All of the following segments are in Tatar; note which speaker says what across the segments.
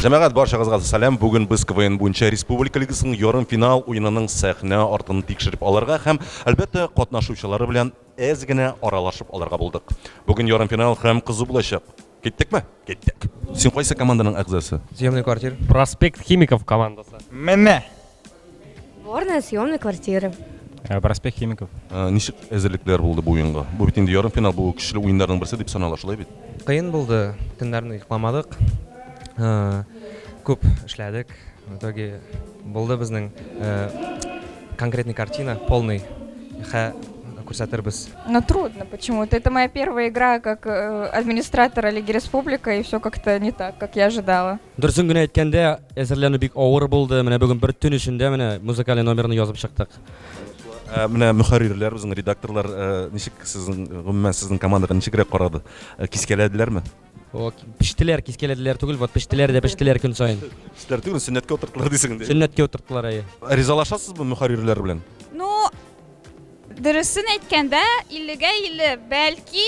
Speaker 1: Җәмәгать баршагызга сәлам. Бүген без КВН буенча республика лигасының ярым финал уенының сәхнә артын тикшереп алырга һәм әлбәттә катнашучылары белән әз генә аралашып алырга булдык. Бүген ярым финал һәм кызу булачак. Киттекме? Киттек. Син кайсы команданың әгъзасы? Съемный квартир.
Speaker 2: Проспект Химиков командасы. Менә!
Speaker 3: Горная съемная квартира. Э, проспект
Speaker 2: химиков э, ничек әзерлекләр
Speaker 1: булды бу уенга бу бит инде ярым финал бу көчле уеннарның берсе дип санала шулай бит кыен булды
Speaker 2: төннәрне йокламадык э, күп эшләдек в итоге булды безнең конкретный картина полный хә күрсәтербез но трудно
Speaker 4: почему-то это моя первая игра как администратора лиги республика и все как-то не так как я ожидала Дөресен генә әйткәндә,
Speaker 2: әзерләнү бик авыр булды. Менә бүген бер төн эчендә менә музыкаль номерны язып чыктык. Ә, менә
Speaker 1: мөхәррирләр, үзең редакторлар ә, ничек сезнең гомумән сезнең командага ничегрәк карады? Ә, кискәләделәрме? О,
Speaker 2: пештеләр, кискәләделәр түгел, вот пештеләр дә пештеләр көн саен. Пештеләр түгел, сөннәткә
Speaker 1: утырттылар дисең инде. Сөннәткә утырттылар, әйе.
Speaker 2: Ризалашасызбы
Speaker 1: мөхәррирләр белән? Ну,
Speaker 4: дөресен әйткәндә, 50-гә 50, бәлки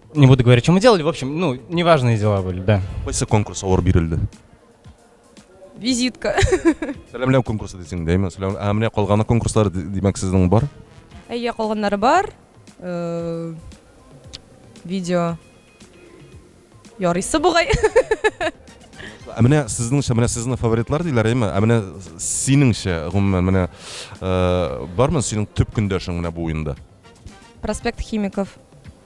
Speaker 5: Не буду говорить, что мы делали, в общем, ну, неважные дела были, да. Кайсы конкурс алар
Speaker 1: бирелде? Визитка.
Speaker 4: Сәламләү конкурсы
Speaker 1: дисең, дәйме? Сәлам, ә менә калганы конкурслар димәк сезнең бар? Әйе, калганнары
Speaker 6: бар. Э, видео ярыйсы бугай.
Speaker 1: Ә менә сезнеңчә, менә сезнең фаворитлар диләр, әйме? Ә менә синеңчә, гомумән, менә э, бармы синең төп көндәшең менә бу уенда? Проспект
Speaker 6: химиков.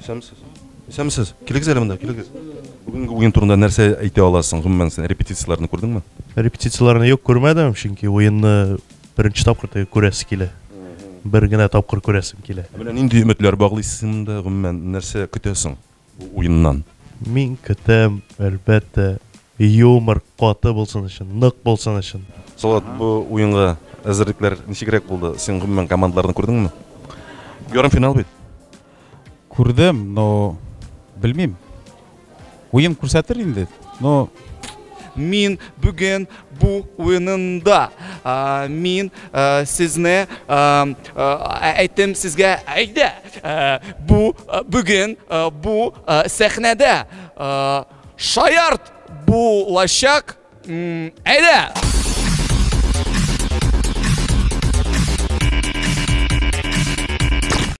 Speaker 1: Исәнмесез. Исәнмесез. Килегез әле монда, килегез. Бүгенге уен турында нәрсә әйтә аласың? Гомумән, син репетицияләрне күрдеңме? Репетицияләрне юк
Speaker 7: күрмәдем, чөнки уенны беренче тапкыр теге күрәсе килә. Бер генә тапкыр күрәсем килә. Менә нинди өметләр
Speaker 1: баглыйсың монда, гомумән, нәрсә көтәсең бу уеннан? Мин көтәм,
Speaker 7: әлбәттә, Юмор каты булсын өчен, нык булсын өчен. Салават, бу
Speaker 1: уенга әзерлекләр ничегрәк булды? Син гомумән командаларны күрдеңме? Ярымфинал бит. Күрдем,
Speaker 8: но белмим. Уен күрсәтер инде, но Мин
Speaker 9: бүген бу уенында мин сезне әйтем сезгә әйдә бу бүген бу сәхнәдә Шаярт булачак. Әйдә!